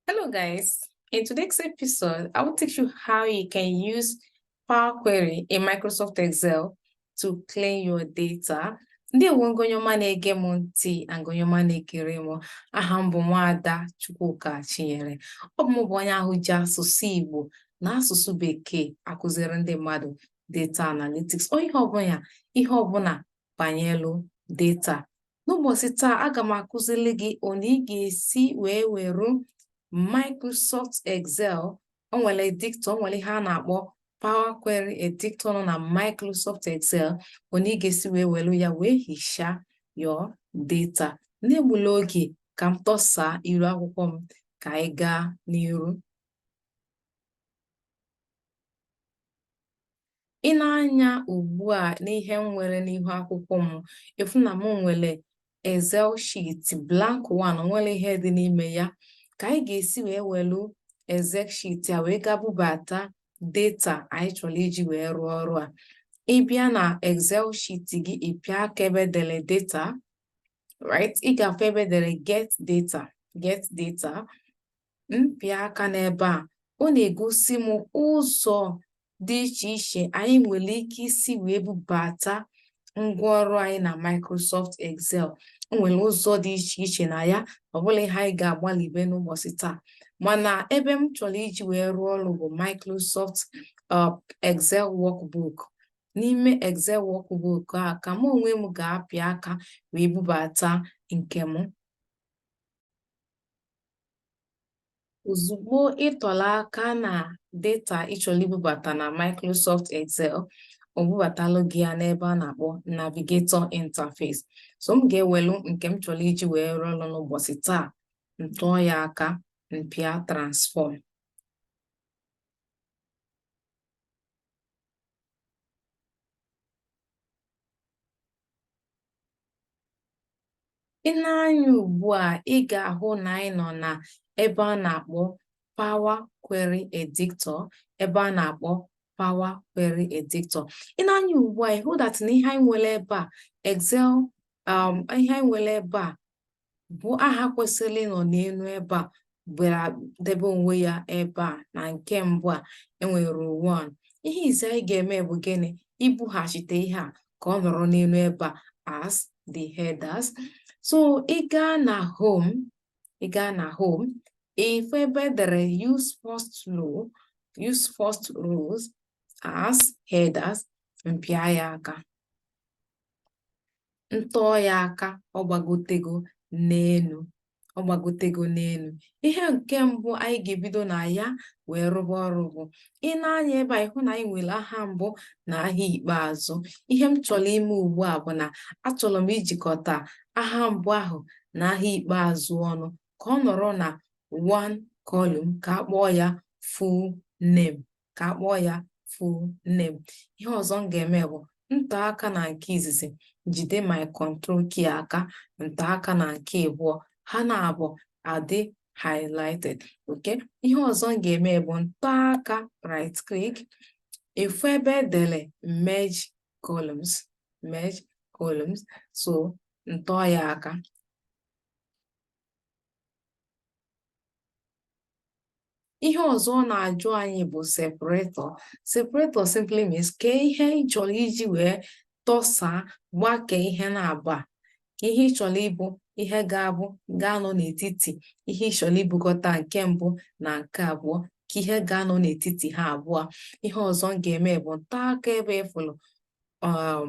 Hello guys, in today's episode, I will teach you how you can use Power Query in Microsoft Excel to clean your data. Ndewo ngị onye ọma na-ege m ntị na ngị onye ọma na-ekiri m aha m bụ Nwaada Chukwuka Chinyere. Ọ bụ m bụ onye ahụ ji asụsụ Igbo na asụsụ Bekee akụziri ndị mmadụ data analytics or ihe ọbụla ihe ọbụla banyelu data n'ụbọchị taa aga m akụzili gị on how ị ga-esi wee were Microsoft Excel o nwere editor o nwere ihe a na-akpọ Power Query editor nọ na Microsoft Excel on how ị ga-esi wee were ya wee hichaa your data n'egbula oge ka m tọsa iru akwụkwọ m ka anyị gaa n'iru i nee anya ugbu a n'ihe m nwere n'ihu akwụkwọ m ị fụ na m nwere Excel sheet blank one nwerọ ihe dị n'ime ya ka anyị ga-esi wee welu Excel sheet a wee gaa bubata data anyị chọrọ iji wee rụọ ọrụ a ị bịa na Excel sheet gị ị pịa aka ebe e dere data right ị ga-afụ ebe e dere get data get data m pịa aka n'ebe a ọ na-egosi m ụzọ dị iche iche anyị nwere ike isi wee bubata ngwaọrụ anyị na Microsoft Excel o nwere ụzọ dị iche iche na ya ọ bụla ihe anyị ga-agbalịbe n'ụbọchị taa mana ebe m chọrọ iji wee rụọ ọrụ bụ Microsoft uh, Excel workbook n'ime Excel workbook a ka mụ onwe m ga-apị aka wee bubata nke m Ozugbo ị tụlụ aka na data ị chọrọ ibubata na Microsoft Excel, o bubatalụ gị ya n'ebe a na-akpọ Navigator Interface. So m ga-ewelu nke m chọrọ iji wee rụọ ọrụ n'ụbọchị taa, m tụọ ya aka, m pịa Transform. i nee anya ugbu a ị ga-ahụ na anyị nọ na ebe a na-akpọ power query editor ebe a na-akpọ power query editor i nee anya ugbu a ị hụ that na ihe anyị nwere ebe a excel um, ihe anyị nwere ebe a bụ aha kwesịrị ịnọ n'elu ebe a bịara debe onwe ya ebe a na nke mbụ a e nwere one ihe izi anyị ga-eme bụ gịnị ibughachite ihe a ka ọ nọrọ n'elu ebe a as the headers so ị gaa na home ị gaa na home ị fụ ebe e dere use first rows as headers m pịa ya aka ntọọ ya aka ọ gbagotego n'elu ọ gbagotego n'elu ihe nke mbụ anyị ga-ebido na ya wee rụba ọrụ bụ i nee anya ebe a ịhụ na anyị nwere aha mbụ na aha ikpeazụ ihe m chọrọ ime ugbu a bụ na achọrọ m ijikọta aha mbụ ahụ na aha ikpeazụ ọnụ ka ọ nọrọ na one column ka a kpọọ ya full name ka a kpọọ ya full name ihe ọzọ m ga-eme bụ ntọ aka na nke izizi jide my control key aka ntọ aka na nke abụọ ha naabọ adị highlighted okay ihe ọzọ m ga-eme bụ ntọ aka right click ịfụ ebe edere merge columns merge columns so ntọ ya aka ihe ọzọ ọ na-ajụ anyị bụ separator separator simply means kee ihe ị chọrọ iji wee tọsaa gbakee ihe naabọ a kee ihe ị chọrọ ịbụ ihe ga-abụ ga-anọ n'etiti ihe ị chọrọ ibukọta nke mbụ na nke abụọ kee ihe ga-anọ n'etiti ha abụọ ihe ọzọ m ga-eme bụ ntọ aka ebe ịfụrụ um,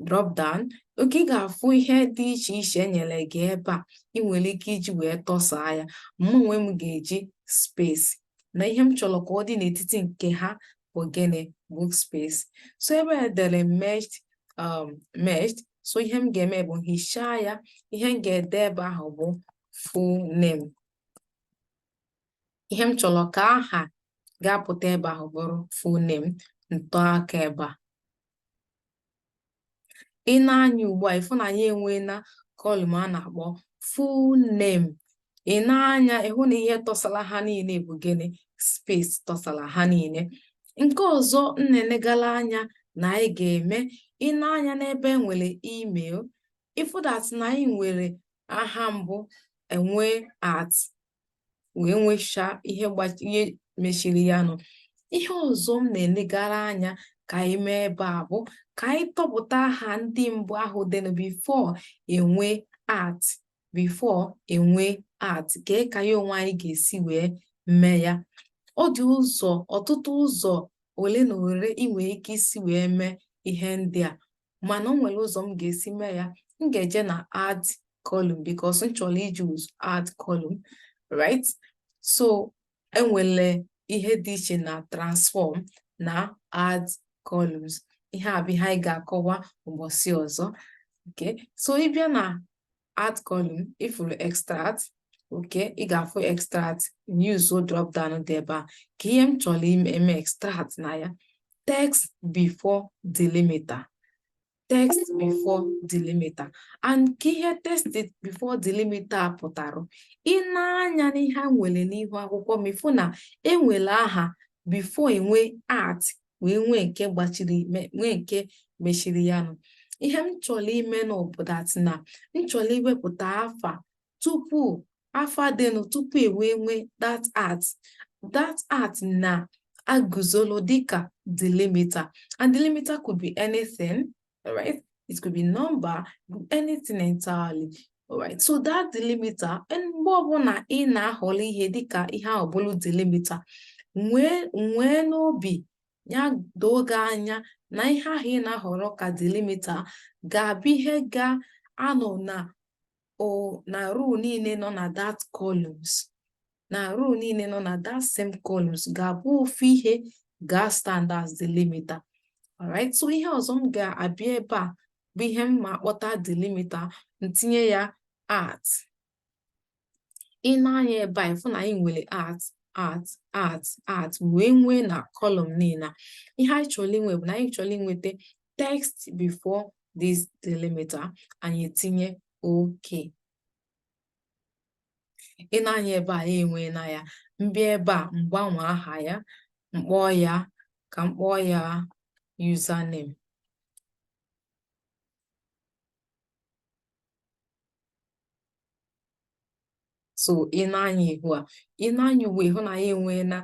drop down okay ị ga-afụ ihe dị iche iche enyere gị ebe a ị nwere ike iji wee tọsaa ya mụ onwe m ga-eji space na ihe m chọrọ ka ọ dị n'etiti nke ha bụ gịnị bụ space so ebe a dere merged um, merged so ihe m ga-eme bụ hichaa ya ihe m ga-ede ebe ahụ bụ full name ihe m chọrọ ka aha ga-apụta ebe ahụ bụrụ full name ntọ aka ebe a i nee anya ugbu a ịfụ na anyị enweena column a na-akpọ full name i nee anya ịhụ na ihe tọsara ha niile bụ gịnị space tọsara ha niile nke ọzọ m na-enegala anya na anyị ga-eme i nee anya n'ebe e nwere email ịfụ that na anyị nwere aha mbụ enwee at wee nwechaa ihe ihe mechiri ya ọnụ ihe ọzọ m na-elegara anya ka anyị mee ebe a bụ ka anyị tọpụta aha ndị mbụ ahụ dịnụ before enwee at before enwee at kee ka anyị onwe anyị ga-esi wee mee ya ọ dị ụzọ ọtụtụ ụzọ ole na ole ị nwere ike isi wee mee ihe ndị a mana o nwere ụzọ m ga-esi mee ya m ga-eje na add column because m chọrọ iji ụzọ add column right so enwere ihe dị iche na transform na add columns ihe a bụ ihe anyị ga-akọwa ụbọchị ọzọ okay so ịbịa na add column ị fụrụ extract okay ị ga-afụ extract use drop down dị ebe a kee ihe m chọrọ ime eme extract na ya text before delimiter text before delimiter and kee ihe text before delimiter pụtara i nee anya n'ihe a nwere n'ihu akwụkwọ m ị fụ na enwere aha before enwe at wee nwee nke gbachiri nwee nke mechiri ya nụ ihe m chọrọ ime now bụ that na m chọrọ iwepụta afa tupu afa dịnụ tupu ewee nwee that at that at na-aguzolo dịka delimiter and delimiter could be anything All right. It could be number, anything entirely. All right. So that delimiter, mgbe ọbụla ị na-ahọrọ ihe dịka ihe ahụ bụrụ delimiter, nwee n'obi ya doo gị anya na ihe ahụ ị na-ahọrọ ka delimiter ga-abụ ihe ga-anọ na o na row niile nọ na that columns na row niile nọ na that same columns ga-abụ ofu ihe ga-stand as delimiter alright so ihe ọzọ m ga-abịa ebe a bụ ihe m ma akpọta delimiter m tinye ya at i nee anya ebe a ị fụ na anyị nwere at at at at wee nwee na column niile ihe anyị chọrọ inwe bụ na anyị chọrọ inweta text before this delimiter anyị tinye okay i nee anya ebe a e nweena ya m bịa ebe a m gbanwee aha ya m kpọọ ya ka m kpọọ ya username so i nee anya ihu a i nee anya ugbu a ị hụ na anyị enweena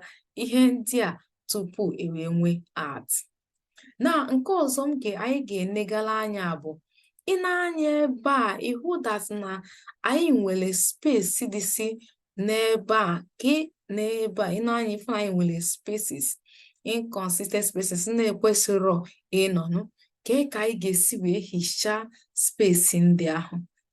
ihe ndị a tupu ewee nwee at na nke ọzọ m ga anyị ga-enegala anya bụ i nee anya ebe a ị hụ that na anyị nwere space dịsị n'ebe a ka n'ebe a i nee anya ị fụ na anyị nwere spaces inconsistent spaces na-ekwesịrọ ịnọnụ kee ka anyị ga-esi wee hichaa space ndị ahụ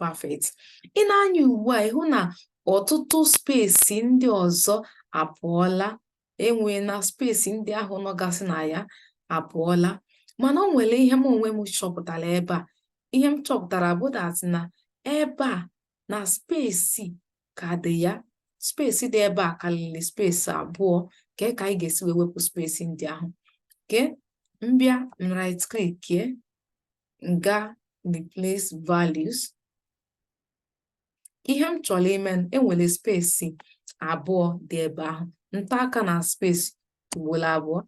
perfect i nee anya ugbu a ị hụ na ọtụtụ space ndị ọzọ apụọla enwe na space ndị ahụ nọgasị na ya apụọla mana o nwere ihe m onwe m chọpụtara ebe a ihe m chọpụtara bụ that na ebe a na space ka dị ya space dị ebe a karịrị space abụọ kee ka anyị ga-esi wee wepụ space ndị ahụ okay m bịa right click m gaa replace values ihe m chọrọ ime e nwere space abụọ dị ebe ahụ nta aka na space ugboro abụọ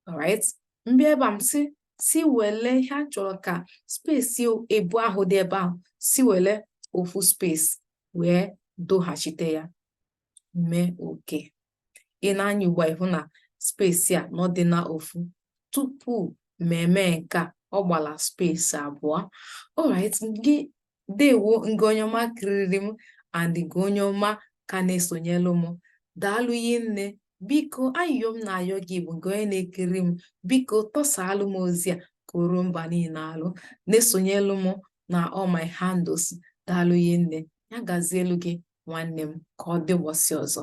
alright m bịa ebe a m si si wele ihe a chọrọ ka space abụọ ahụ dị ebe ahụ si wele ofu space wee doghachite ya mee okay i nee anya ugbu a ị hụ na space a nọ dị na ofu tupu m eme nke a ọ gbala space abụọ alright ndeewo ngị onye ọma kiriri m and ngị onye ọma ka na-esonyelu m daalụ hinne biko ayịyọ m na-ayọ gị bụ ngị onye na-ekiri m biko tọsaalụ m ozi a ka o ruo mba niile alụ na-esonyelu m na all my handles daalụ hinne ya gazielu gị nwanne m ka ọ dị ụbọchị ọzọ